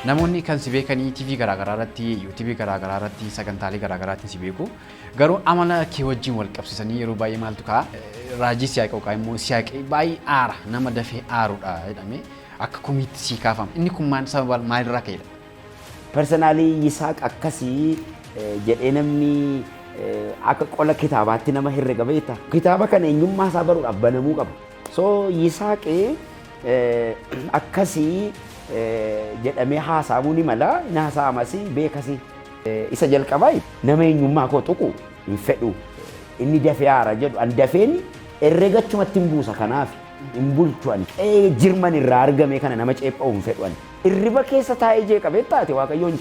Namoonni kan si beekanii TV garaagaraa irratti, YouTube garaagaraa irratti, sagantaalee garaagaraatiin si beeku. Garuu amala kee wajjin wal qabsiisanii yeroo baay'ee maaltu ka'a? Raajii siyaaqe yookaan immoo siyaaqe baay'ee aara nama dafee aarudha jedhamee akka komiitti sii kaafama. Inni kun maal sababa maalirraa ka'edha? Personaalii Yisaaq akkasii eh, jedhee namni eh, akka qola kitaabaatti nama herrega beekta. Kitaaba kana eenyummaa isaa baruudhaaf banamuu qaba. So Yisaaq akkasi jedhamee haasa'amuu ni mala, ni haasa'amas beekasi. Isa jalqabaa nama eenyummaa koo tuqu hin fedhu. Inni dafee haara jedhu an dafeen herrega achumatti hin buusa kanaaf hin bulchu ani. Qe'ee jirman irraa argamee kana nama ceepha'u hin fedhu ani. Irriba keessa taa'ee jeeqamee taate Waaqayyoon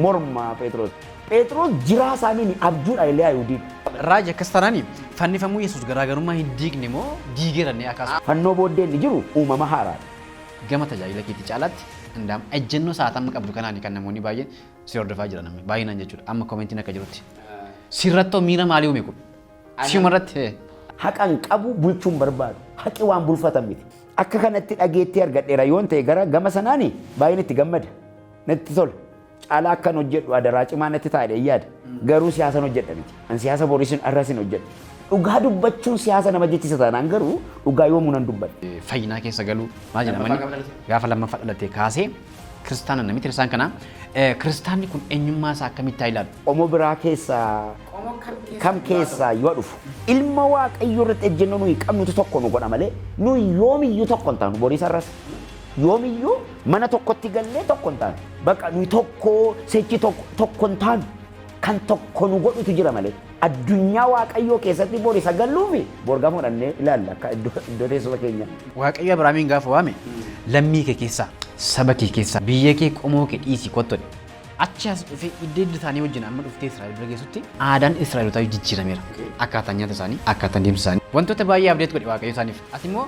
morma Pheexiroos. Pheexroos jiraa isaaniin abjuu dha ilee Ayihudiin. Raaji akkas taanaan fannifamuu Yesuus garaagarummaa hin diigne moo diigeera innee akaasu. Fannoo booddee inni jiru uumama haaraa dha. Gama tajaajila keetii caalaatti Andaam ejjennoo sa'aata amma qabdu kanaani kan namoonni baay'een si hordofaa jiran amma baay'inaan jechuudha amma komentiin akka jirutti. Sirrattoo miira maalii uume kun? Siuma irratti hee? Haqa hin qabu bulchuu hin barbaadu. Haqi waan bulfatan miti. Akka kanatti dhageettii argadheera yoon ta'e gara gama sanaani baay'een itti gammada. Natti tola. Caalaa akkan hojjedhu adaraa cimaa natti ta'a jedheen yaada. Garuu siyaasan hojjedha miti. An siyaasa borisin arrasin hojjedha. Dhugaa dubbachuun siyaasa nama jechisa taanaan garuu dhugaa yoomuu nan dubbadha. fayyinaa keessa galuu maal jedhama Lammaffaa inni? qabalate. gaafa lammaffaa dhalatee kaasee kiristaana namitti kiristaan kana eh, kiristaanni kun eenyummaa isaa akkamitti haa ilaalu? Qomoo biraa keessaa kam keessaa yoo dhufu ilma waaqayyoo irratti ejjennoo nuyi qabnutu tokko nu godha malee nuyi yoomiyyuu tokko hin taanu boriisa irras Yoomiyyuu mana tokkotti gallee tokko hin taanu. Baqa nuyi tokko sechi tokko tokko hin taanu. Kan tokko nu godhutu jira malee. Addunyaa Waaqayyoo keessatti bor isa galluu fi bor gamoo dhannee ilaalla akka iddoo iddoo teessuma keenya. Waaqayyo Abrahaamiin gaafa waame lammii kee keessaa, saba kee keessaa, biyya kee qomoo kee dhiisii kottu jedhe. Achi as dhufee idda idda isaanii wajjin amma dhuftee Israa'el bira geessutti aadaan Israa'elotaa jijjiirameera. Akkaataan nyaata isaanii, akkaataan deemsa isaanii. Wantoota baay'ee abdeet godhe Waaqayyo isaaniif. Ati immoo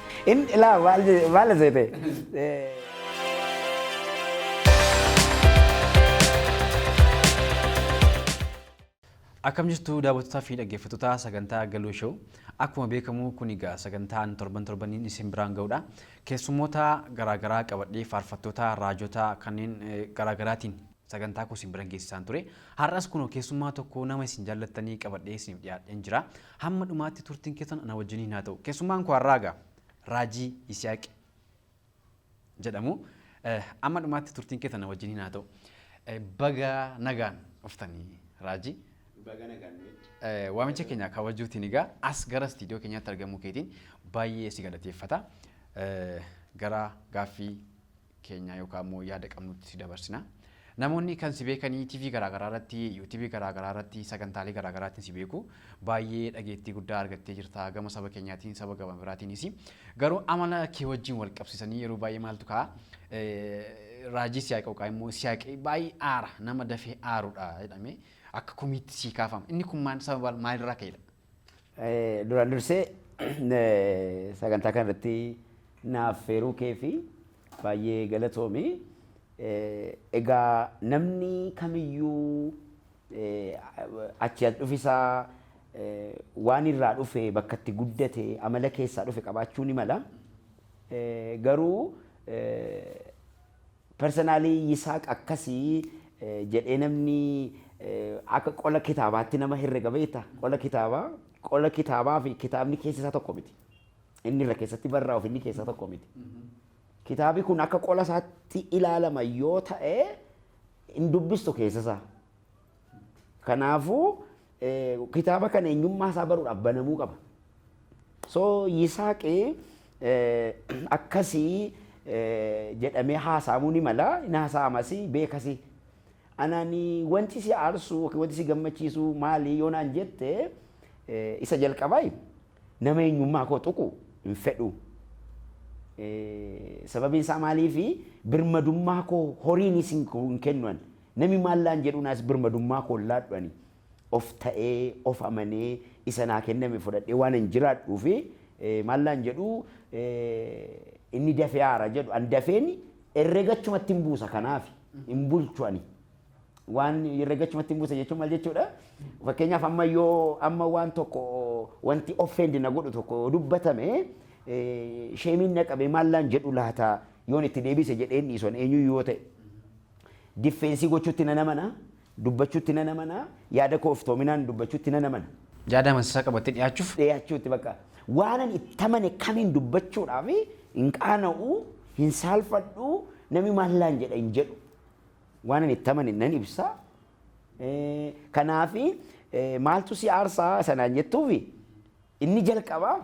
In ilaa maal je- maal seete? Eh, Akkam jirtu daawwattootaa fi dhaggeeffattoota sagantaa Galuu Show. Akkuma beekamu kun egaa sagantaan torban torbaniin isin biraan ga'udha. Keessummoota garaagaraa qabadhee faarfattoota, raajota kanneen eh, garaagaraatiin Sagantaa koo isin biran geessisaan ture. Har'as kunoo keessummaa tokko nama isin jaallattanii qabadhee isiniif dhiyaadheen jira. Hamma dhumaatti turtiin keessan ana wajjiniin haa ta'u. Keessummaan koo har'aa egaa Raajii Isiyaaq jedhamu. Eh, Amma dhumaatti turtiin keessan ana wajjiniin haa ta'u. Eh, Baga nagaan dhuftanii Raajii. Baga nagaan nu wajjin. Eh, Waamicha keenya kabajuutiin egaa as gara istiidiyoo keenyaatti argamuu keetiin baay'ee si galateeffata. Eh, Gara gaaffii keenyaa yookaan immoo yaada qabnutti si dabarsina. Namoonni kan si beekanii TV garaagaraa irratti, YouTube garaagaraa irratti, sagantaalee garaagaraatiin si beeku. Baay'ee dhageettii guddaa argattee jirta gama saba keenyaatiin, saba gama biraatiinis. Garuu amala kee wajjin wal qabsiisanii yeroo baay'ee maaltu ka'a? Raajii siyaaqi yookaan immoo siyaaqi baay'ee aara, nama dafee aarudha jedhamee akka komiitti sii kaafama. Inni kun maal sababa maalirraa ka'edha? Duraan dursee sagantaa kana irratti naaf affeeruu kee fi baay'ee galatoomi. Egaa namni kamiyyuu achii as dhufi isaa waan irraa dhufe bakka itti guddate amala keessaa dhufe qabaachuu ni mala. Garuu Personally Yisaaq akkasi jedhee namni akka qola kitaabaatti nama herrega beekta. Qola kitaabaa qola kitaabaa fi kitaabni keessa isaa tokko miti. Inni irra keessatti barraa'u fi inni keessaa tokko miti. Kitaabi kun akka qola isaatti ilaalama yoo ta'e hin dubbistu keessa isaa. Kanaafuu kitaaba kana eenyummaa isaa baruudhaaf banamuu qaba. So Yisaaqi akkasii jedhamee haasa'amuu ni mala, hin haasa'amasi beekasi. Anani wanti si aarsu yookiin wanti si gammachiisu maali yoo naan jette isa jalqabaa nama eenyummaa koo tuqu hin fedhu. Sababiin isaa maaliifi birmadummaa koo horiinis hin kennu ani. Nami maal naan jedhuu naas birmadummaa koo hin laadhu ani of ta'ee, of amanee, isa naa kenname fudhadhee waanan jiraadhuuf maal naan jedhuu inni dafee aara jedhu an dafeen herrega achumattin buusa kanaafi hin bulchu ani. Waan herrega achumattin buusa jechuun maal jechuudha? Fakkeenyaaf amma yoo amma waan tokko wanti offend na godhu tokko yoo dubbatame sheemiin na qabee maal naan jedhu laata Yoon itti deebise jedheen dhiisu an eenyuyyuu yoo ta'e. Diffeensii gochuutti nan amana, dubbachuutti nan amana, yaada koo iftoominaan dubbachuutti nan amana. Yaada amansiisaa qabattee dhiyaachuuf. dhiyachuutti bakka waanan itti amane kamiin dubbachuudhaaf hin qaana'u, hin saalfadhu, namni maal naan jedha hin jedhu. Waanan itti amane nan ibsa. Kanaaf maaltu si aarsa isa naan jettuuf? Inni jalqabaa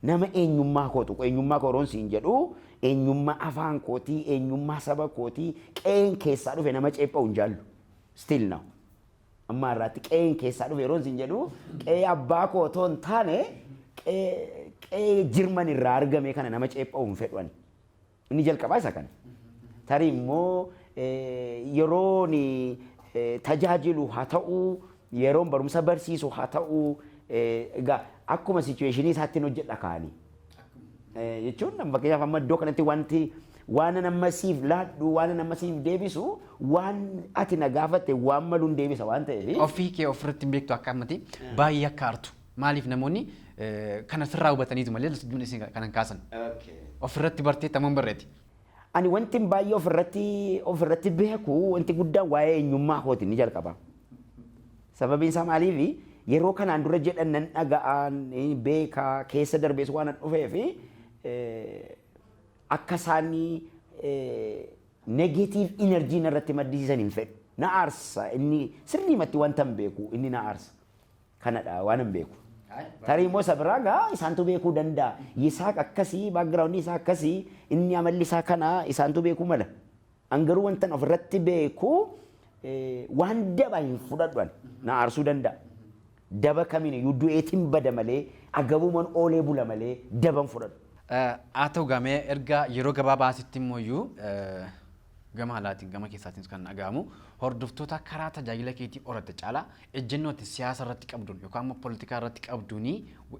nama eenyummaa koo tuqu, eenyummaa koo yeroon siin jedhu eenyummaa afaan kootii, eenyummaa saba kootii, qe'een keessaa dhufe nama ceepha'u hin jaallu. Still now. Amma har'aatti qe'een keessaa dhufe yeroon siin jedhu qe'ee abbaa koo otoo hin taane qe'ee qe'ee Jirman irraa argame kana nama ceepha'u hin fedhu ani. Inni jalqabaa isa kana. Tarii immoo yeroon tajaajilu haa ta'u, yeroon barumsa barsiisu haa ta'u, egaa akkuma situeeshinii isaatti hojjedha kaani. Jechuun fakkeenyaaf amma iddoo kanatti wanti waanan amma siif laadhu, waanan amma siif deebisu, waan ati na gaafatte waan maluun deebisa waan ta'eef. Ofii kee ofirratti hin beektu akka ammati baay'ee akka aartu. Maaliif namoonni kana sirraa hubataniitu malee lsjjuun isii kana hin kaasan. Ofirratti barteetta moo hin barre ati? Ani wantin baay'ee ofirratti ofirratti beeku wanti guddaan waa'ee eenyummaa kooti inni jalqabaa. Sababiin isaa maaliifi yeroo kanaan dura jedhan nan dhaga'a, beeka, keessa darbees waanan dhufeef akka isaan negative energy narratti maddisiisan hin fedhu. Na aarsa inni sirriimatti wantan beeku inni na aarsa. kanadha waanan beeku. Tarii immoo isa biraa gaa isaantu beekuu danda'a. Yisaaq akkasii, background isaa akkasii, inni amalli isaa kana isaantu beekuu mala. An garuu wantan ofirratti beeku eh, waan daba hin fudhadhu ani. Na aarsuu danda'a. Daba kamiin iyyuu du'eetiin bada malee, agabuuman oolee bula malee daban fudhadhu. Eh, Haa ta'u gamee erga yeroo gabaabaa asitti immoo iyyuu eh, Gama alaatiin, gama keessaatiinis kan dhaga'amu, hordoftoota karaa tajaajila keetii horatte caalaa ejjennoo ati siyaasa irratti qabduun yookaan immoo politikaa irratti qabduun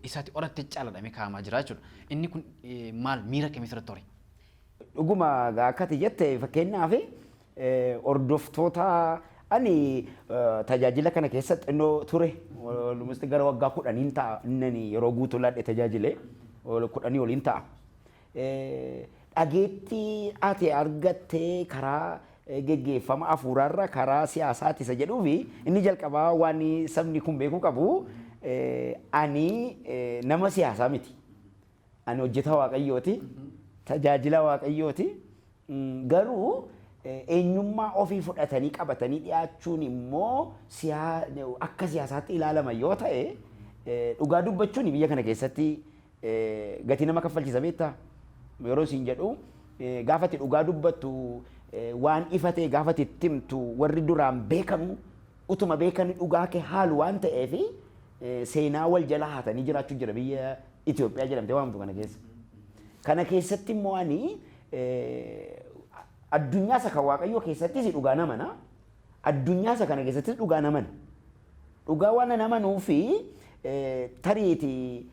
isa ati horatte caala jedhamee kaa'amaa jira jechuudha. Inni kun maal miira akkamii sirratti hore? Dhuguma akka ati jette fakkeenyaaf hordoftoota ani tajaajila kana keessa xinnoo ture almost gara waggaa kudhaniin ta'a inni yeroo guutuu laadhe tajaajile kudhanii oliin ta'a. Dhageettii ati argatte karaa geggeeffama afuuraarra karaa siyaasaati isa jedhuufi inni jalqabaa waan sabni kun beekuu qabu ani nama siyaasaa miti. Ani hojjetaa Waaqayyooti. Tajaajilaa Waaqayyooti. Garuu eenyummaa ofii fudhatanii qabatanii dhiyaachuun immoo akka siyaasaatti ilaalama yoo ta'e dhugaa dubbachuun biyya kana keessatti Gatii nama kaffalchiisa beektaa? Yeroo siin jedhu gaafa itti dhugaa dubbattu waan ifa ta'e gaafa itti itti himtu warri duraan beekanu utuma beekani dhugaa kee haalu waan ta'eef seenaa wal jala haatanii jiraachuu jira biyya Itoophiyaa jedhamtee waamtu kana keessa. Kana keessatti immoo ani addunyaa isa kan waaqayyoo keessattis dhugaa namana Addunyaa isa kana keessattis dhugaan amana. Dhugaa waanan amanuufi tariiti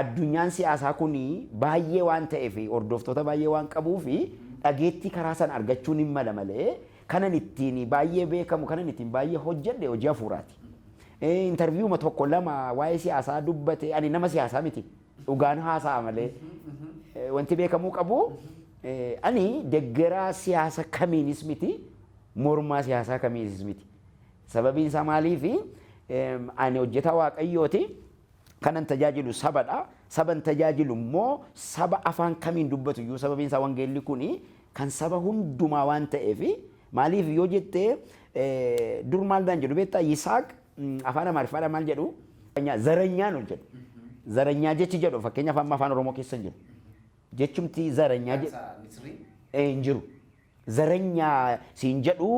addunyaan siyaasaa kun baay'ee waan ta'eef hordoftoota baay'ee waan qabuuf dhageettii karaa sana argachuun hin mala malee kanan ittiin baay'ee beekamu kanan ittiin baay'ee hojjedhe hojii hafuuraati. Intarviiyuma tokko lama waa'ee siyaasaa dubbate ani nama siyaasaa miti. Dhugaan haasa'a malee. Eh, Wanti beekamuu qabu eh, ani deggeraa siyaasa kamiinis miti mormaa siyaasaa kamiinis miti. Sababiin isaa maaliifi em, ani hojjetaa waaqayyooti kanan tajaajilu sabadha. Saban tajaajilu immoo saba afaan kamiin dubbatu iyyuu sababiin isaa wangeelli kuni kan saba hundumaa waan ta'eefi maaliif yoo jettee eh, dur maal naan jedhu beektaa Yisaaq afaan amaariffaadhaan maal jedhu zaranyaa nu jedhu zaranyaa jechi jedhu fakkeenya afaan afaan oromoo keessa hin jiru jechumti zaranyaa jedhu hin jiru zaranyaa siin jedhu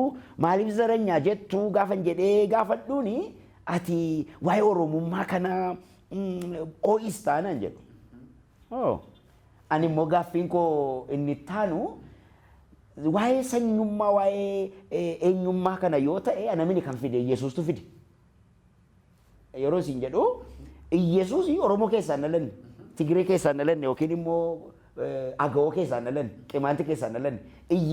maaliif zaranyaa jettu gaafan jedhee gaafadhuuni ati waa'ee oromummaa kana oo'is taanaan jedhu Oh. Ani immoo gaaffiin koo inni itti aanu waa'ee sanyummaa waa'ee eh, eenyummaa kana yoo ta'e anamini kan fide Yesuustu fide. Yeroo isin jedhu Yesuus Oromoo keessaa hin dhalanne, Tigiree keessaa hin dhalanne yookiin immoo eh, Agawoo keessaa hin dhalanne, Qimaanti keessaa hin dhalanne.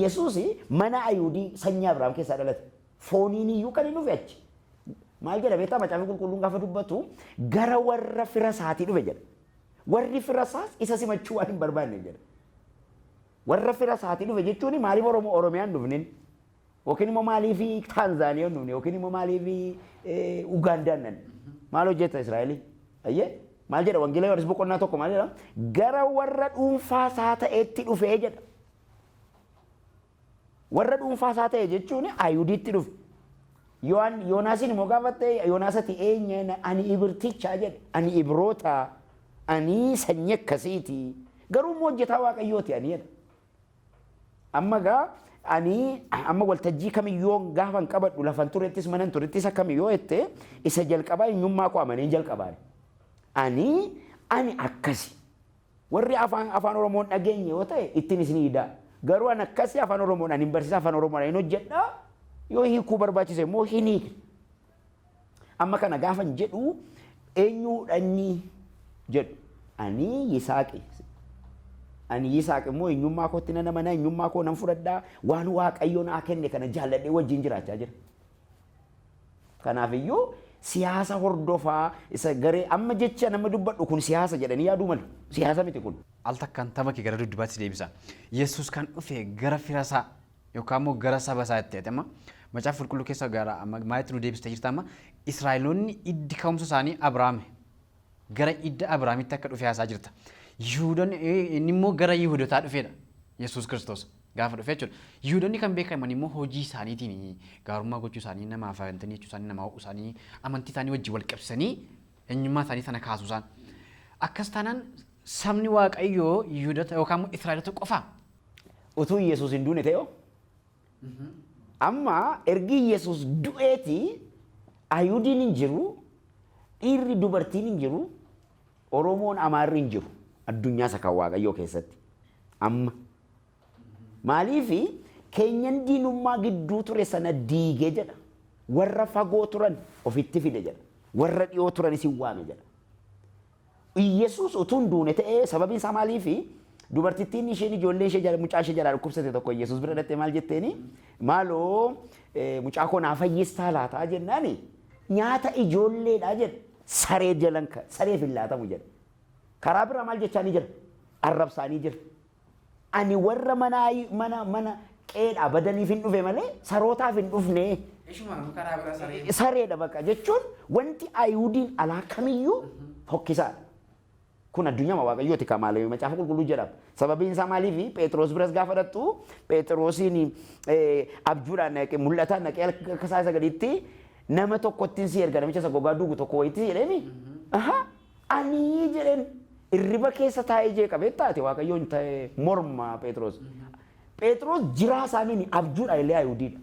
Yesuus mana Ayuudii sanyii Abrahaam keessaa dhalate. Fooniin iyyuu kan hin dhufe achi. Maal jedha beektaa macaafni qulqulluun gaafa dubbatu gara warra fira isaatii dhufe jedha. Warri fira isaas isa simachuu waan hin barbaanne jedha. Warra fira isaatii dhufe jechuun maaliif Oromoo Oromiyaan dhufnin? Yookiin immoo maaliif Taanzaaniyaan dhufne? Yookiin immoo maaliif Ugaandaan dhan? Maal hojjeta Israa'elii? Ayyee maal jedha wangeela Yohaannis boqonnaa tokko maal jedha? Gara warra dhuunfaa isaa ta'etti dhufee jedha. Warra dhuunfaa isaa ta'e jechuun Ayihudiitti dhufe. Yohaan- Yoonaasiin immoo gaafatte Yoonaas ati eenye? Na- Ani Ibirticha jedhe. Ani Ibiroota. Ani sanyii akkasiiti. Garuu immoo hojjetaa Waaqayyooti ani jedhe. Amma egaa ani amma waltajjii kamiyyoo gaafa hin qabadhu lafan turettis manan turettis akkami yoo jette isa jalqabaa eenyummaa koo amaneen jalqabaan. Ani ani akkasi. Warri afaan afaan oromoo hin dhageenye yoo ta'e ittin isni idaa garuu an akkasi afaan oromoodhan hin barsiisa afaan oromoodhan hin hojjedha yoo hiikuu barbaachise immoo hin hiikna amma kana gaafan jedhu eenyuudha inni jedhu ani yisaaqi ani yisaaq immoo eenyummaa kootti nan amana eenyummaa koo nan fudhadha waan waaqayyo naa kenne kana jaalladhee wajjin jiraachaa jira Kanaaf iyyuu siyaasa hordofaa isa garee amma jecha nama dubbadhu kun siyaasa jedhanii yaaduu malu. Siyaasa miti kun. Al takkaan tapha kee gara duddubaatti si deebisa. Yesuus kan dhufe gara fira isaa yookaan immoo gara saba isaa itti amma macaafa qulqulluu keessa gara maalitti nu deebista jirta amma Israa'eloonni iddi ka'umsa isaanii Abrahaame. Gara idda Abiraamitti akka dhufee haasaa jirta. Yihuudonni inni immoo gara Yihuudotaa dhufeedha. Yesuus Kiristoos gaafa dhufe jechuudha. Yihuudonni kan beekaman immoo hojii isaaniitiin gaarummaa gochuu isaanii namaaf amananii jechuu isaanii namaa ho'uu isaanii amantii isaanii wajjin wal qabsanii eenyummaa isaanii sana kaasuu isaan. Akkas taanaan sabni Waaqayyoo Yihuudota yookaan immoo Israa'elota qofaa? Utuu Yesuus hin duune ta'e hoo Amma ergi Yesuus du'eeti Ayihudiin hin jiru, dhiirri dubartiin hin jiru, Oromoon Amaarri hin jiru addunyaa isa kan Waaqayyoo keessatti. Amma maaliif keenyan diinummaa gidduu ture sana diige jedha. Warra fagoo turan ofitti fide jedha. Warra dhiyoo turanis hin waame jedha. Iyyesuus utuu hin duune ta'ee sababiin isaa maaliifi? Dubartittiin isheen ijoollee ishee jala- mucaa ishee jalaa dhukkubsate tokko Iyyesuus bira dhattee maal jetteeni? Maaloo eh, mucaa koo naa fayyistaa laataa jennaani nyaata ijoolleedhaa jedhe saree jalan ka- sareef hin laatamu jedhe. Karaa biraa maal jechaanii jira? Arrabsaanii jira. Ani warra mana mana mana qeedhaa badaniif hin dhufe malee sarootaaf hin dhufne. Ishuma nama karaa bira saree. Sareedha bakka jechuun wanti Ayihudiin alaa kamiyyuu fokkisaadha. Kun addunyaa waaqayyooti kan maal macaafa qulqulluu jedhama. Sababiin isaa maaliifi Pheexiroos biras gaafa dhaqxu Pheexiroosiin abjuudhaan naqee mul'ataan naqee akka isaa isa gadiitti nama tokkottiin si erga namicha isa gogaa duugu tokko wayitti jedheemi. Ahaa. Ani jedheen irriba keessa taa'ee jeeqa beektaa ati waaqayyoon ta'ee morma Pheexroos. Pheexroos jiraa isaaniin abjuudha illee Ayihudiidha.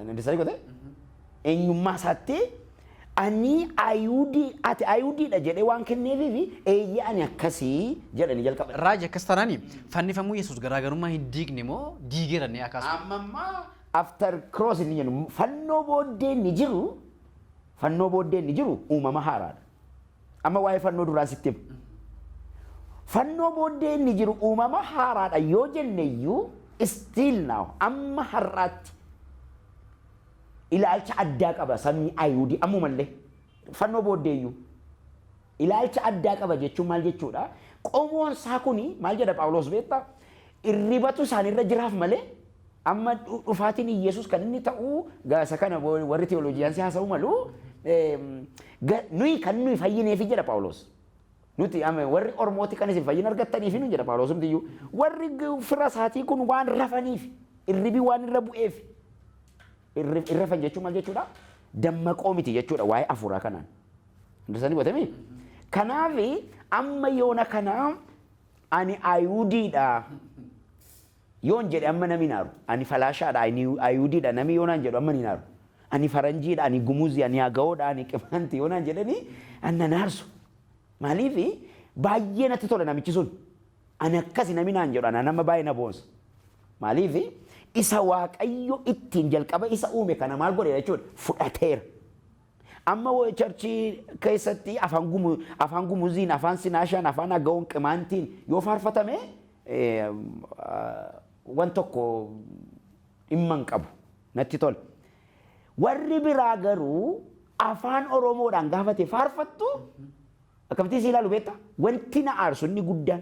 Dandesanii kotee? Eenyummaa isaatti ani Ayihudii ati Ayihudiidha jedhee waan kenneefiifi eeyyee ani akkasii jedhanii jalqaba. Raaji akkas taanaan fannifamuu Yesuus garaagarummaa hin diigne moo diigeera inni akaasu? Amma ammaa after cross inni jennu fannoo booddee inni jiru Fannoo booddee inni jiru uumama haaraadha. Amma waa'ee fannoo duraan sitti hima. Fannoo booddee inni jiru uumama haaraadha yoo jenne iyyuu still now amma har'aatti ilaalcha addaa qaba sabni Ayihudii ammumallee fannoo booddee iyyuu ilaalcha addaa qaba jechuun maal jechuudha? Qomoon isaa kuni maal jedha Phaawulos beektaa? Irribatu isaanirra jiraaf malee Amma dhu- dhufaatiin Iyyasuus kan inni ta'u ga- isa kana wa- warri teoloojiyaansii haasa'uu malu eem, ga- nuyi kan nuyi fayyineefi jedha Phaawulos. Nuti amma warri ormooti kan isin fayyina argattaniifi nu jedha Phaawulos hundiyyu. Warri g- fira isaatii kun waan rafaniif irribi waan irra bu'eef irri irra rafan jechuun maal jechuudha? Dammaqoo miti jechuudha waa'ee afuuraa kanaan. Hundisanii hubatamee? Kanaaf amma yoona kana ani Ayihudiidha Yoon jedhe amma nami hin aaru. Ani falaashaa dha, ani Ayihudii dha nami yoo naan jedhu amma ani hin aaru. Ani Faranjii dha, ani Gumuzi, ani Agawoo dha, ani Qimaanti yoo naan jedhani anna hin aarsu. Maaliif baay'ee natti tola namichi sun. Ani akkasi nami naan jedhu anaan amma baay'ee na boonsa. Maaliif isa Waaqayyo ittiin jalqaba isa uume kana maal godheera jechuudha fudhateera. Amma church keessatti afaan gumu afaan gumuziin afaan sinaashaan afaan agawoon qimaantiin yoo faarfatame wan tokko dhimma hin qabu natti tola. Warri biraa garuu afaan oromoodhaan gaafate faarfattu akkamittiin si ilaalu beektaa? Wanti na aarsu inni guddaan.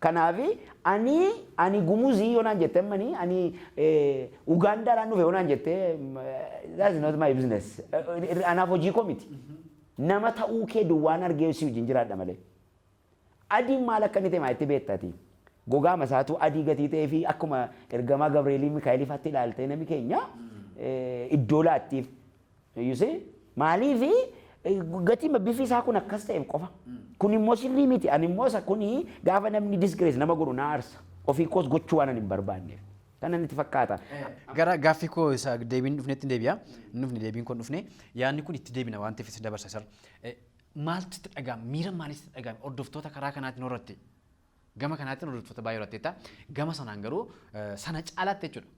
Kanaafi ani ani gumuzii yoo naan jette ammani ani Ugaandaadhaan dhufe yoo naan jette that is not my business. Anaaf hojii koo miti. Nama ta'uu kee duwwaan argee si wajjin jiraadha malee. Adiin maal akka inni ta'e maalitti beekta ati? Gogaama isaatu adii gatii ta'ee fi akkuma ergamaa Gabreelii Mikaa'eliifaatti ilaaltee nami keenya iddoo laattiif. You see? Maaliif gatii bifni isaa kun akkas ta'eef qofa. Kun immoo sirrii miti. Ani immoo isa kun gaafa namni disgrace nama godhu na aarsa. Ofii koos gochuu waan ani hin barbaanneef. Kana natti fakkaata. Gara gaaffii koo isa deebiin dhufnetti hin deebi'a. Hin dhufne deebiin kun dhufne. Yaadni kun itti deebina waan ta'eef isa dabarsa sar. Maaltu itti dhaga'ama? Miira maaliitu itti dhaga'ama? Hordoftoota karaa kanaatiin horratte. Gama kanaatiin hordoftoota baay'ee horratteetta. Gama sanaan garuu sana caalaatti jechuudha.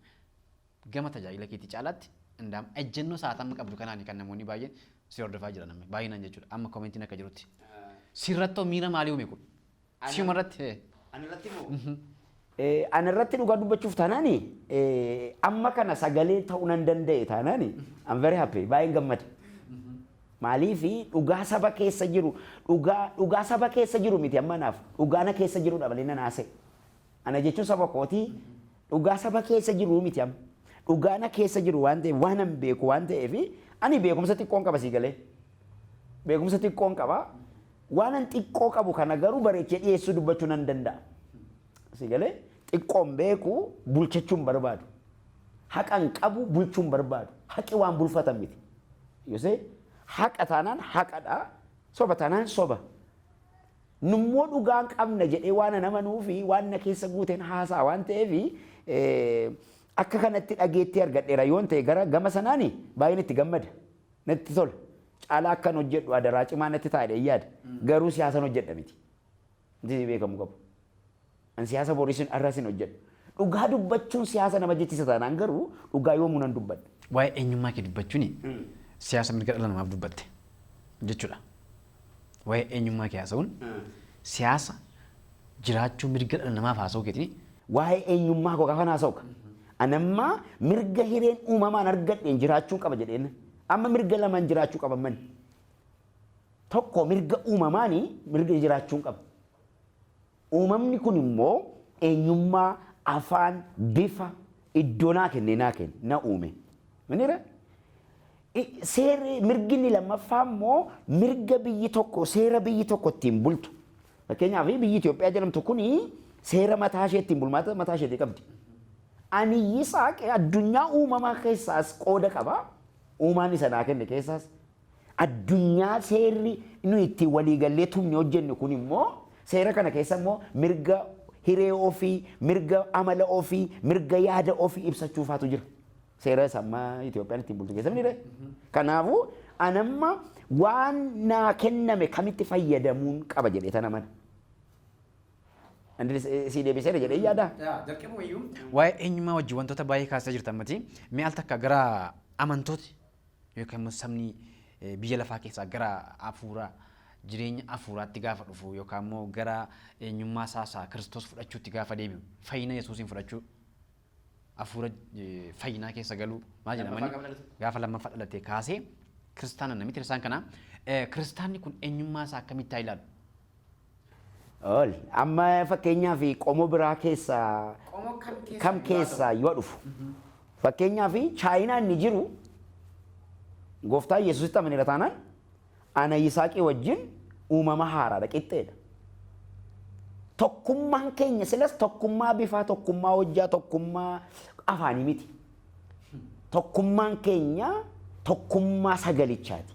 Gama tajaajila keetii caalaatti Indaam ejjennoo sa'aat amma qabdu kanaani kan namoonni baay'een si hordofaa jiran amma baay'inaan jechuudha amma komentiin akka jirutti. Sirrattoo miira maalii uume kun? Siuma irratti hee? Anarratti moo? Anarratti dhugaa dubbachuuf taanaani amma kana sagalee ta'uu nan danda'e taanaani I'm very happy baay'een gammada. Maaliif dhugaa saba keessa jiru dhugaa dhugaa saba keessa jiru miti amma naaf dhugaa na keessa jirudha malee nan haasa'e. Ana jechuun saba kooti Dhugaa saba keessa jiruu miti amma. Dhugaa na keessa jiru waan ta'eef waanan beeku waan ta'eef ani beekumsa xiqqoon qaba sii galee. Beekumsa xiqqoon qaba. Waanan xiqqoo qabu kana garuu bareechee dhiyeessuu dubbachuu nan danda'a. Sii galee xiqqoon beeku bulchachuu hin barbaadu. Haqan qabu bulchuu hin barbaadu. Haqi waan bulfatan miti. Yosee haqa taanaan haqadha. Soba taanaan soba. Nummoo dhugaan qabna jedhee waanan amanuu fi waan na keessa guuteen haasa'a waan ta'eef akka kanatti dhageettii argadheera yoon ta'e gara gama sanaan baay'een itti gammada. Natti tola. Caalaa akkan hojjedhu adaraa cimaa natti ta'a jedheen yaada. Garuu siyaasan hojjedha miti. Wanti beekamuu qabu. An siyaasa boris hin arras hin hojjedhu. Dhugaa dubbachuun siyaasa nama jechisa taanaan garuu dhugaa yoomuu nan dubbadha. Waa'ee eenyummaa kee dubbachuun siyaasa mirga dhala namaaf dubbatte jechuudha. Waa'ee eenyummaa kee haasa'uun siyaasa jiraachuu mirga dhala namaaf haasa'uu keetiin Waa'ee eenyummaa koo gaafan haasa'u ka. An amma mirga hireen uumamaan argadheen jiraachuun qaba jedheen. Amma mirga lamaan jiraachuu qaba mani. Tokko mirga uumamaani mirga jiraachuun qaba. Uumamni kun immoo eenyummaa, afaan, bifa, iddoo naa kennee naa ken, na uume. Minira? I- Seerri mirgi inni lammaffaa immoo mirga biyyi tokko seera biyyi tokko ittiin bultu. Fakkeenyaaf biyyi Itoophiyaa jedhamtu kun seera mataa ishee ittiin bulmaata mataa isheetii qabdi. Ani Yisaaq addunyaa uumamaa keessaas qooda qaba. Uumaan isa naa kenne keessaas Addunyaa seerri nuyi ittiin waliigallee tumne hojjenne kun immoo seera kana keessa immoo mirga hiree ofii, mirga amala ofii, mirga yaada ofii ibsachuu faatu jira. Seera isa amma Itoophiyaan ittiin bultu keessa miti Kanaafuu anamma waan naa kenname kamitti fayyadamuun qaba jedhee tan amana. Andri sii deebiseera jedhee yaadaa? Jalqabuma iyyuu waa'ee eenyummaa wajjin wantoota baay'ee kaasaa jirta ammati. Mee al takka gara amantooti Yookiin ammas sabni biyya lafaa keessaa gara hafuura jireenya hafuuraatti gaafa dhufu yookaan immoo gara eenyummaa isaa isaa Kiristoos fudhachuutti gaafa deebi'u fayyina Yesuusiin fudhachuu hafuura fayyinaa keessa galuu maal jedhamani gaafa lammaffaa dhalatee kaasee kiristaana namitti isaan kana kiristaanni kun eenyummaa isaa akkamitti haa ilaalu Ool. Amma fakkeenyaaf qomo biraa keessa Qomoo kam keessa? kam keessa yoo dhufu. Fakkeenyaaf chaayinaa inni jiru gooftaa Yesuusitti amaneera taanaan ana Yisaaqii wajjin uumama haaraadha qixxeedha. Tokkummaan keenya silas tokkummaa bifaa, tokkummaa hojjaa, tokkummaa afaanii miti. Tokkummaan keenya tokkummaa sagalichaati.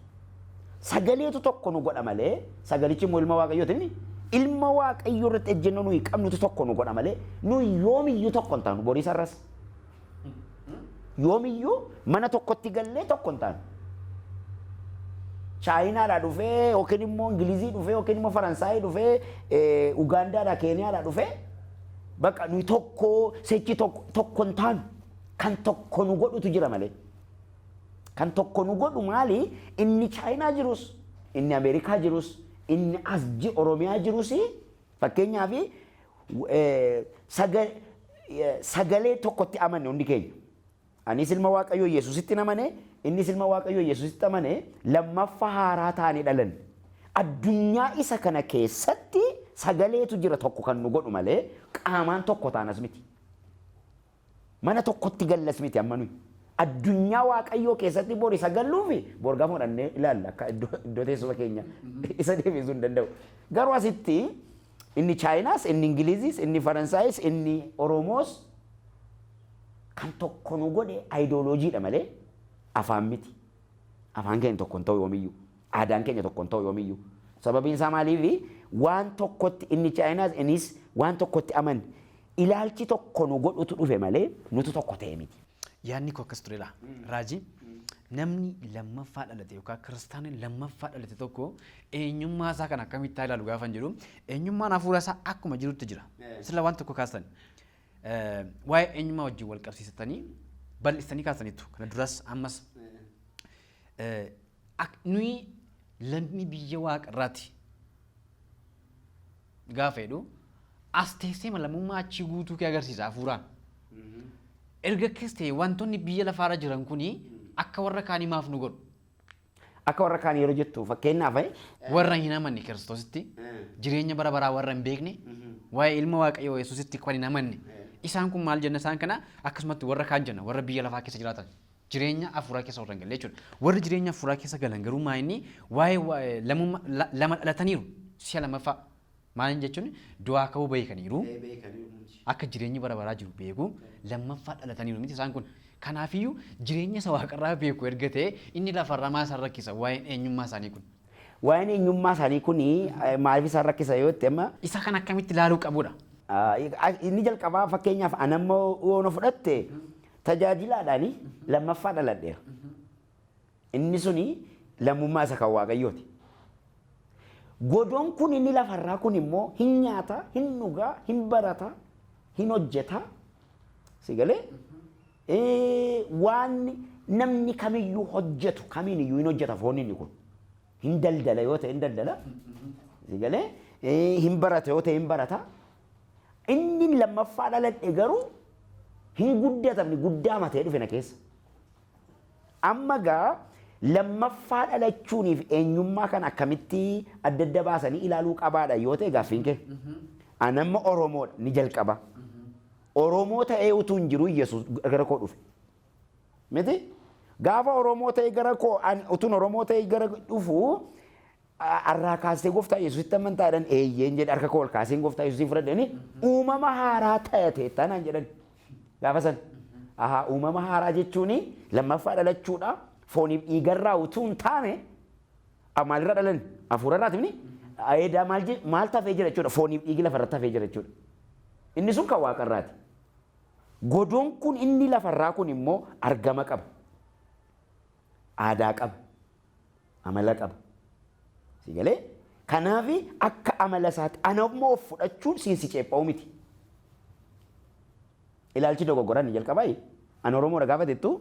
Sagaleetu tokko nu godha malee, sagalichi immoo ilma Waaqayyooti inni ilma Waaqayyoo irratti ejjennoo nuyi qabnutu tokko nu godha malee, nuyi yoomiyyuu tokko hin taanu borii sarras. Yoomiyyuu mana tokkotti gallee tokko hin taanu. Chaayinaadhaa dhufee yookiin immoo Ingilizii dhufee yookiin immoo Faransaayii dhufee Ugaandaadhaa Keeniyaadhaa dhufee Baqa nuyi tokko sechi tokko tokko hin taanu. Kan tokko nu godhutu jira malee. Kan tokko nu godhu maali? Inni Chaayinaa jirus, inni Ameerikaa jirus, inni as ji Oromiyaa jirus fakkeenyaaf eh, saga- eh, sagalee tokkotti amanne hundi keenya. Anis ilma Waaqayyoo Yesusittin amane, innis ilma Waaqayyoo Yesusitti amane, lammaffa haaraa taane dhalanne. Addunyaa isa kana keessatti sagaleetu jira tokko kan nu godhu malee qaamaan tokko taanas miti. Mana tokkotti gallas miti amma nuyi. Addunyaa Waaqayyoo keessatti bor isa galluufi bor gafa fudhannee ilaalla akka iddoo teessuma keenya isa deebisuu hin danda'u. Garuu asitti Inni Chaayinaas, inni Ingiliziis, inni Faransaayis, inni Oromoos kan tokko nu godhe ayidooloojiidha malee afaan miti. Afaan keenya tokko hin ta'u yoomiyyuu. Aadaan keenya tokko hin ta'u yoomiyyuu. Sababiin isaa maaliifi waan tokkotti inni Chaayinaas innis waan tokkotti aman ilaalchi tokko nu godhutu dhufe malee nutu tokko ta'e miti. Yaadni koo akkas turedha. Raajii namni lammaffaa dhalate yookaan kiristaanni lammaffaa dhalate tokko eenyummaa isaa kan akkamitti haa ilaalu gaafan jedhu eenyummaan hafuura isaa akkuma jirutti jira. Sila waan tokko kaastan waa'ee eenyummaa wajjin wal qabsiisatanii bal'istanii kaasaniitu kana duras ammas nuyi lammii biyya waaqa irraati gaafa jedhu as teessee lammummaa achii guutuu kee agarsiisa hafuuraan. Erga keessa ta'e wantoonni biyya lafaarra jiran kuni akka warra kaanii maaf nu godhu? Akka warra kaan yeroo jettu fakkeenyaaf eh, Warra hin amanne Kiristoositti, jireenya bara baraa warra hin beekne, waa'ee ilma Waaqayyoo Yesuusitti kan hin amanne. Isaan kun maal jenna isaan kana akkasumatti warra kaan jenna warra biyya lafaa keessa jiraatan. Jireenya hafuuraa keessa warra hin galle jechuudha. Warri jireenya hafuuraa keessa galan garuu maa inni waa'ee waa'ee lamumma- la- lama dhalataniiru si'a lamaffaa Maaliin jechuun du'aa ka'uu beekaniiru, Ee beekaniiru nuti. akka jireenyi bara baraa jiru beeku, lammaffaa dhalataniiru miti isaan kun. Kanaafiyyuu jireenya isa waaqarraa beeku erga ta'e inni lafarraa maal isaan rakkisa waa'een eenyummaa isaanii kun? Waa'een eenyummaa isaanii kun eh, maaliif isaan rakkisa yoo jette amma Isa kan akkamitti ilaaluu qabudha? Ah, inni jalqabaa fakkeenyaaf anammoo yoo na fudhatte tajaajilaadhaani lammaffaa dhaladheera. Inni suni lammummaa isa kan Waaqayyooti. Godoon kun inni lafarraa kun immoo hin nyaata, hin dhuga, hin barata, hin hojjeta. Si galee? Eh, Waan namni kamiyyuu hojjetu kamiin iyyuu hin hojjeta foon inni kun. Hin daldala yoo ta'e hin daldala. Si galee? Eh, Hin barata yoo ta'e hin barata. Inni lammaffaa dhaladhe garuu hin guddatamne guddaa matee dhufe na keessa. Amma egaa lammaffaa dhalachuuniif eenyummaa kana akkamitti adda adda baasanii ilaaluu qabaadha yoo ta'e gaaffiin kee? An amma Oromoodha ni jalqaba. Oromoo ta'ee utuu hin jiru Yesuus gara koo dhufe. Miti? Gaafa Oromoo ta'ee gara koo an utuun Oromoo ta'ee gara dhufu Har'aa kaastee Gooftaa Yesuusitti amantaa jedhan eeyyeen jedhe harka koo ol kaaseen Gooftaa Yesuusiin fudhadhe jedhanii uumama haaraa ta'eetta naan jedhan gaafa san. Ahaa uumama haaraa jechuun lammaffaa dhalachuudha fooniif dhiigarraa utuu hin taane a- maalirraa dhalan hafuurarraati mini eedaa maal je- maal tafee jira jechuudha fooniif dhiigi lafarratti hafee jira jechuudha. Inni sun kan waaqarraati. Godoon kun inni lafarraa kun immoo argama qaba. Aadaa qaba. amala qaba. Si galee? Kanaaf akka amala isaatti ana immoo of fudhachuun siin si ceepha'u miti. Ilaalchi dogoggora inni jalqabaa inni an Oromoodha gaafa jettu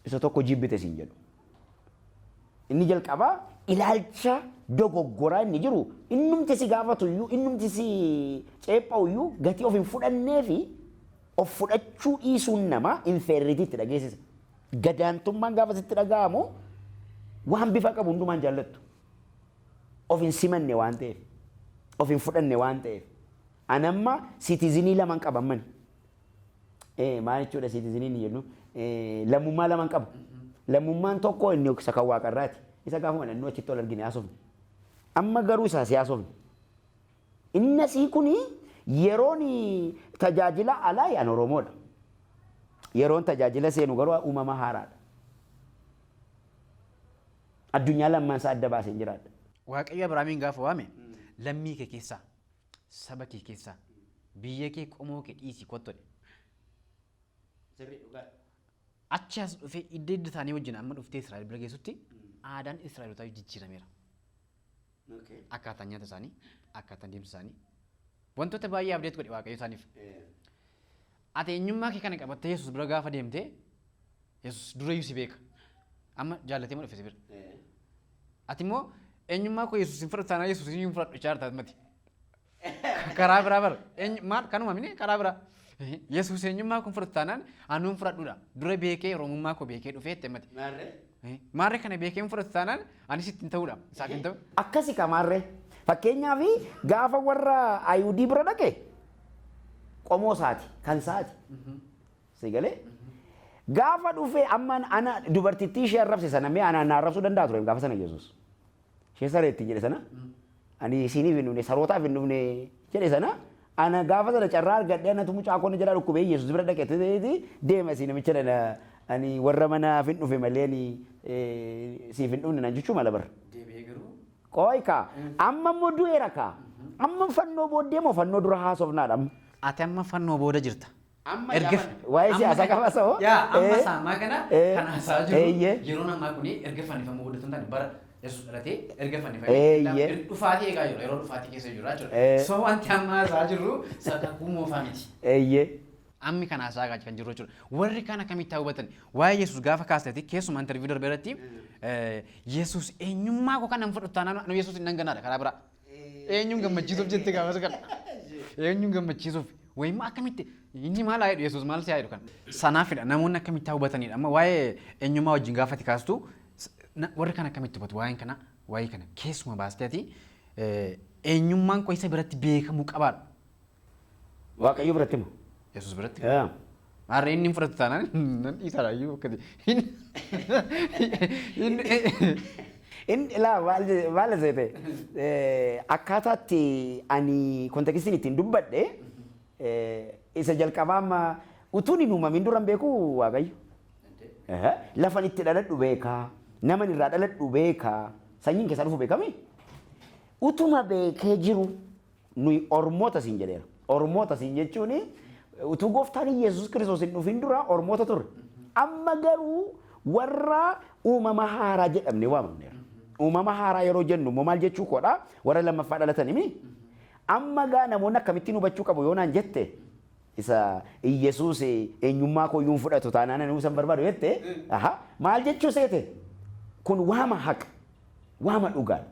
isa tokko jibbite siin jedhu. Inni jalqabaa ilaalcha dogoggoraa inni jiru innumti si gaafatu iyyuu innumti si ceepha'u iyyuu gatii of hin fudhannee fi of fudhachuu dhiisuun namaa infeerritiitti dhageessisa. Gadaantummaan gaafa sitti dhaga'amu waan bifa qabu hundumaa hin jaallattu. Of hin simanne waan ta'eef, of hin fudhanne waan ta'eef. An amma siitizinii laman qaba ammani. Eh, maal jechuudha siitiziniin hin jennu? Eh, lammummaa laman qaba. Lammummaan tokko inni isa kan waaqarraati. Isa gaafuma dhannoo achitti ol argine haasofne. Amma garuu isaa si haasofne. Innasii kuni yeroon tajaajila alaa an Oromoodha. Yeroon tajaajila seenu garuu uumama haaraadha. Addunyaa lamman isaa adda baaseen jiraadha. Waaqayyo Abrahaamiin gaafa waame lammii kee keessaa, saba kee keessaa, biyya kee, qomoo kee dhiisii kottu jedhe. Achi as dhufee idda idda isaanii wajjin amma dhuftee Israa'el bira geessutti aadaan Israa'elotaa jijjiirameera. akkaataan nyaata isaanii, akkaataan deemsa isaanii wantoota baay'ee abdeet godhe Waaqayyo isaaniif. Ati eenyummaa kee kana qabattee Yesuus bira gaafa deemte Yesuus durayyuu si beeka. Amma jaallatee moo dhufe si bira. Ati immoo eenyummaa koo Yesuus hin fudhatu taanaan Yesuus hin fudhatu jechaa jirta mati. Karaa biraa bara. Eenyu- Maal kanuma mini karaa biraa. Yesuus eenyummaa kun fudhatu taanaan anuun fudhadhuudha. Dura beekee Oromummaa koo beekee dhufee itti himmate. Maarree? Eh, Maarree kana beekee hin fudhatu taanaan anis ittiin ta'uudha. Isaaf hin ta'u. Akkasi kamaarree. Fakkeenyaaf gaafa warra Ayihudii bira dhaqe qomoo isaati kan isaati. Si galee? Gaafa dhufee amma ana dubartittii ishee arrabse sana mee anaan na arrabsuu danda'a ture gaafa sana Yesuus. ishee saree ittiin jedhe sana ani isiiniif hin dhufne sarootaaf hin dhufne jedhe sana ana gaafa sana carraa argadhe anatu mucaa koonni jalaa dhukkubee yesus bira dhaqe ta'eeti deema isii namicha dhana ani warra manaaf hin dhufe malee ani eh, siif hin dhufne naan jechuu mala bara. Deebi'ee garuu Qoy kaa amma immoo du'eera kaa amma fannoo booddee moo fannoo dura haasofnaadha amma. Ati amma fannoo booda jirta. Amma Erga yaamani. waa'ee Amma siyaasaa kana- qabasa hoo? Yaa amma Eh, isaa ammaa kana eh, kan haasaa jiru eeyyee. yeroon ammaa kun erga fannifamuu guddatan taane bara yesus dhalatee erga fannifamee Eeyyee. erga dhufaatii eegaa jiru yeroo dhufaatii keessa jiru jechuudha. Eh. So wanti amma haasaa jirru sakakkuu moofaa miti. Eeyyee. Ammi kan haasaa eegaa kan jiru jechuudha. Warri kana akkamitti haa hubatan? Waa'ee yesus gaafa kaasneeti keessumaa interviiyuu darbe irratti eh, yesus eenyummaa koo kan nan fudhatu taanaan anu yesus hin dhanganaadha karaa biraa. Eenyuun gammachiisuuf jette gaafas kana. Eenyuun gammachiisuuf. Wayimmoo akkamitti inni maal haa jedhu Yesuus maal si haa jedhu kana. Sanaafidha namoonni akkamitti haa hubatanidha. Amma waa'ee eenyummaa wajjin gaafati kaastu s- na- warri kan akkamitti hubatu waa'een kana waa'ee kana keessuma baastee ati eh, eenyummaan koo isa biratti beekamuu qabaadha. Waaqayyo biratti moo? Yesuus biratti. Yaa. Maarree inni hin fudhatu taanaan nan dhiisaadha iyyuu akkati. Inni laa maal je- maal seete akkaataatti ani kontekistiin ittiin dubbadhe eh, isa jalqabaa amma utuun hin uumamin duran beeku waaqayyo. Aha. Lafan itti dhaladhu beekaa naman irraa dhaladhu beekaa sanyiin keessaa dhufu beekami. Utuma beekee jiru Nuyi Ormoota siin jedheera. Ormoota siin jechuun utuu gooftaan Yesuus Kiristoos hin dhufin dura Ormoota turre. Amma garuu warra uumama haaraa jedhamne waamamneera. Uumama haaraa yeroo jennu immoo maal jechuu koodha? Warra lammaffaa dhalatan himi? Amma gaa namoonni akkamittiin hubachuu qabu yoo naan jette isa Yesuus eenyummaa koo iyyuu hin fudhatu taanaan ani isa hin barbaadu jette maal jechuu seete? Kun waama haqa, waama dhugaadha.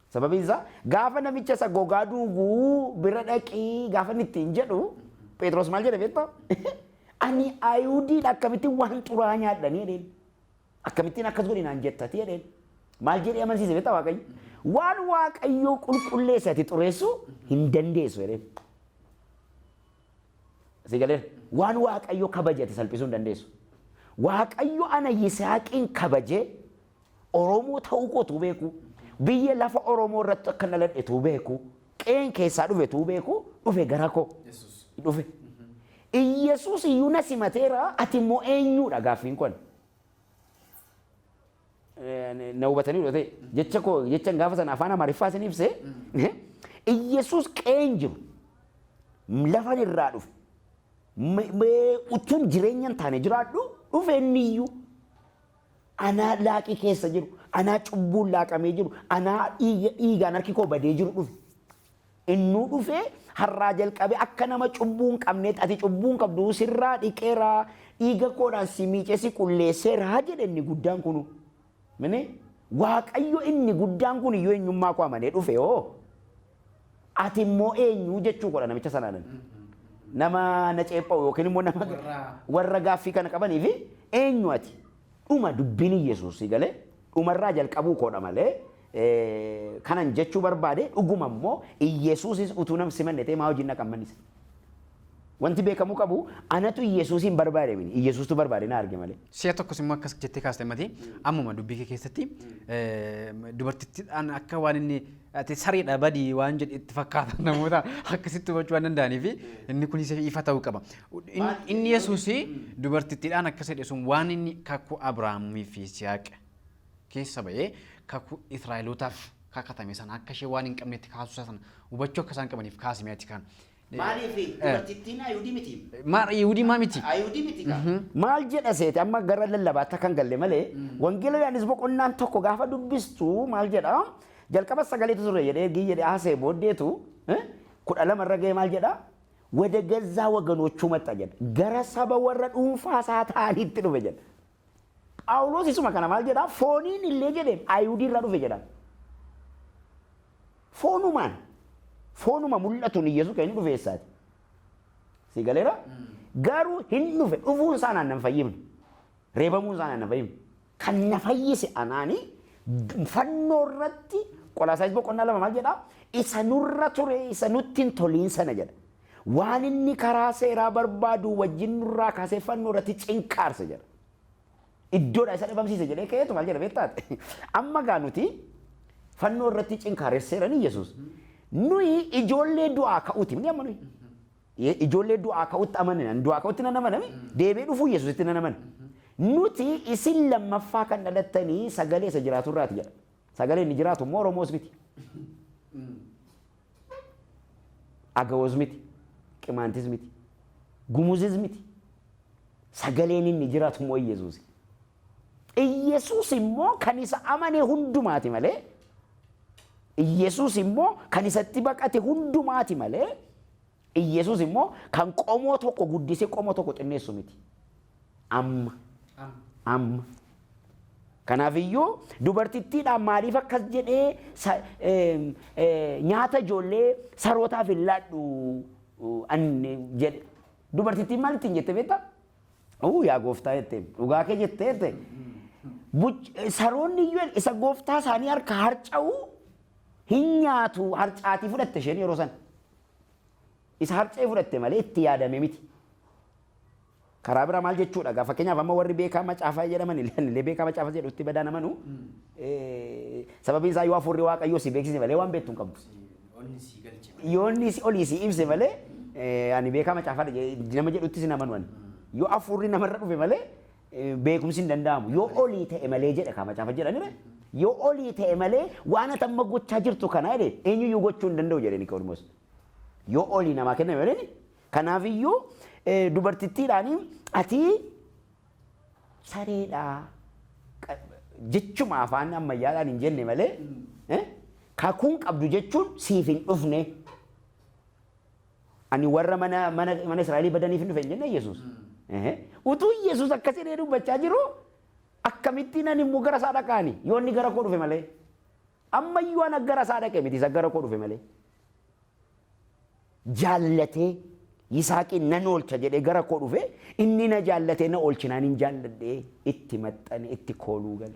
Sababiin isaa gaafa namicha isa gogaa duugu bira dhaqii gaafa inni ittiin jedhu Phexros maal jedhe beektaa? Ani Ayihudiidha akkamittiin waan xuraa'aa nyaadhanii jedheen. Akkamittiin akkas godhi naan jettati jedheen. Maal jedhee amansiise beektaa Waaqayyo? Waan Waaqayyoo qulqulleesse ati xureessuu hin dandeessu jedheen. Si galee waan Waaqayyo kabaje ati salphisuu hin dandeessu. Waaqayyo ana Yisihaaqiin kabajee Oromoo ta'uu koo utuu beekuu, biyya lafa Oromoo irratti akkan dhaladhe utuu beekuu, qe'een keessaa dhufe utuu beekuu, dhufe gara koo. Dhufe. Iyyesuus iyyuu na simateera, ati immoo eenyuudha gaaffiin kun? Na hubatanii dhufee jecha koo jechan gaafa sana afaan Amaariffaa isin ibse Iyyesuus qe'een jiru lafan irraa dhufe utuun jireenya hin taane jiraadhu dhufe inni iyyuu Anaa laaqii keessa jiru, anaa cubbuun laaqamee jiru, anaa dhiiga, dhiigaan harki koo badee jiru dhufe. Innuu dhufee har'aa jalqabee akka nama cubbuu hin qabneetti ati cubbuu hin qabdu sirraa dhiqeera, dhiiga koodhaan si miicee si qulleesseera jedhe inni guddaan kunu. Mini Waaqayyo inni guddaan kun iyyuu eenyummaa koo amanee dhufe hoo Ati immoo eenyu jechuu koodha namicha sanaan ani. Nama na ceepha'u yookiin immoo nama warra gaaffii kana qabaniif eenyu ati? Dhuma dubbiin Iyyesuus si galee dhumarraa jalqabuu koodha malee kanan jechuu barbaade dhuguma immoo Iyyesuusis utuu nam simanne ta'ee maa hojiin dhaqan manni isaa? Wanti beekamuu qabu anatu Iyyasuusiin barbaade miti. Iyyasuustu barbaade na arge malee. Si'a tokkos immoo akkas jettee kaaste mati ammuma dubbii kee keessatti dubartittiidhaan akka waan inni ati sariidha badii waan jedhe itti fakkaatan namoota akkasitti hubachuu waan danda'anii fi inni kunis ifa ta'uu qaba. Inni Yesuus dubartittiidhaan akkas jedhe sun waan inni kakuu Abiraamii fi Siyaaq keessa ba'ee kakuu Israa'elootaaf kakatame sana akka ishee waan hin qabnetti kaasuu isaa sana hubachuu akka isaan qabaniif kaasime ati kan Maaliif dubartittiin Ayihudii miti? Maal Yihudii maa miti? Ayihudii miti kaa. Mhm. Maal jedha seete amma gara lallabaatti akka hin galle malee wangeela Yohaannis boqonnaan tokko gaafa dubbistu maal jedha jalqaba sagaleetu ture jedhee ergii jedhee haasa'e booddeetu eh, kudha lama irra ga'ee maal jedha wada gazzaa waganochuu maxxa jedha gara saba warra dhuunfaa isaa ta'aniitti dhufe jedha. Phaawulos isuma kana maal jedhaa? Fooniin illee jedheen Ayihudii irraa dhufe jedhaan. Foonumaan, foonuma mul'atuun Iyyasuus kan inni dhufe eessaati? Si galeera? Garuu hin dhufe, dhufuun isaa naan nan fayyifne. Reebamuun isaa naan nan fayyifne. Kan na fayyise anaani fannoo irratti Qolaasaayis boqonnaa lama maal jedhaa? Isa nurra ture, isa nutti hin toliin sana jedha. waan inni karaa seeraa barbaaduu wajjin nurraa kaasee fannoo irratti cinqaarse jedha. Iddoodha isa dhabamsiise jedhee ka'eetu maal jedha beektaati. Amma gaa nuti fannoo irratti cinkaaresseera ni Yesuus. Nuyi ijoollee du'aa ka'uuti ni amma nuyi. Ijoollee du'aa ka'utti amanina. Du'aa ka'utti nan amanami. Deebi'ee dhufuu Yesuusitti nan amana. Nuti isin lammaffaa kan dhalattanii sagalee isa jiraatu irraati jedha. Sagalee inni jiraatu immoo Oromoos miti. Agawoz miti, Qimaantis miti, Gumuzis miti. Sagaleen inni jiraatu immoo Iyyasuusi. Iyyasuus immoo kan isa amane hundumaati malee Iyyasuus immoo kan isatti baqate hundumaati malee Iyyesuus immoo kan qomoo tokko guddisee qomoo tokko xinneessu miti. Amma. Amma. Kanaaf iyyuu dubartittiidhaan maaliif akkas jedhee sa- eem, ee, nyaata ijoollee sarootaaf hin laadhu uu, an jedhe. Dubartittiin maal ittiin jette beektaa? Uu yaa gooftaa jette dhugaa kee jette jette. Buch- eh, Saroonni iyyuu isa gooftaa isaanii harka harca'u hin nyaatu harcaatii fudhatte isheen yeroo sana. Isa harca'ee fudhatte malee itti yaadame miti. Karaa biraa maal jechuudha gaa fakkeenyaaf amma warri beekaa macaafaa jedhaman illee ani illee beekaa macaafaa jedhu itti badaan amanu eh, sababiin isaa yoo hafuurri waaqayyoo si beeksise malee waan beektu hin qabdu. Onni sii galche malee. Yoo inni si olii si ibse malee eh, ani beekaa macaafaa jedhe- nama jedhuttis hin amanu ani. Yoo hafuurri namarra dhufe malee beekumsi hin danda'amu. Yoo olii ta'e malee jedha kaa macaafa jedha mire. Yoo olii ta'e malee waan ati amma gochaa jirtu kana jedhe eenyuyyuu gochuu hin danda'u jedhe Niqoodimoos. Yoo olii namaa kenname malee ni. Kanaafiyyuu dubartittiidhaan ati sareedha jechuma afaan ammayyaadhaan hin jenne malee kakuun qabdu jechuun siif hin dhufne. Ani warra mana, mana, mana Israa'elii badaniif hin dhufe hin jenne Yesuus. Ehe. Utuu Yesuus akkas jedhee dubbachaa jiru akkamittiin ani immoo gara isaa dhaqaani yoo inni gara koo dhufe malee. Amma iyyuu ana gara isaa dhaqe miti isa gara koo dhufe malee. Jaallatee Yisaaqiin nan oolcha jedhee gara koo dhufe inni na jaallatee na oolchinaan hin jaalladhee itti maxxane itti kooluu gale.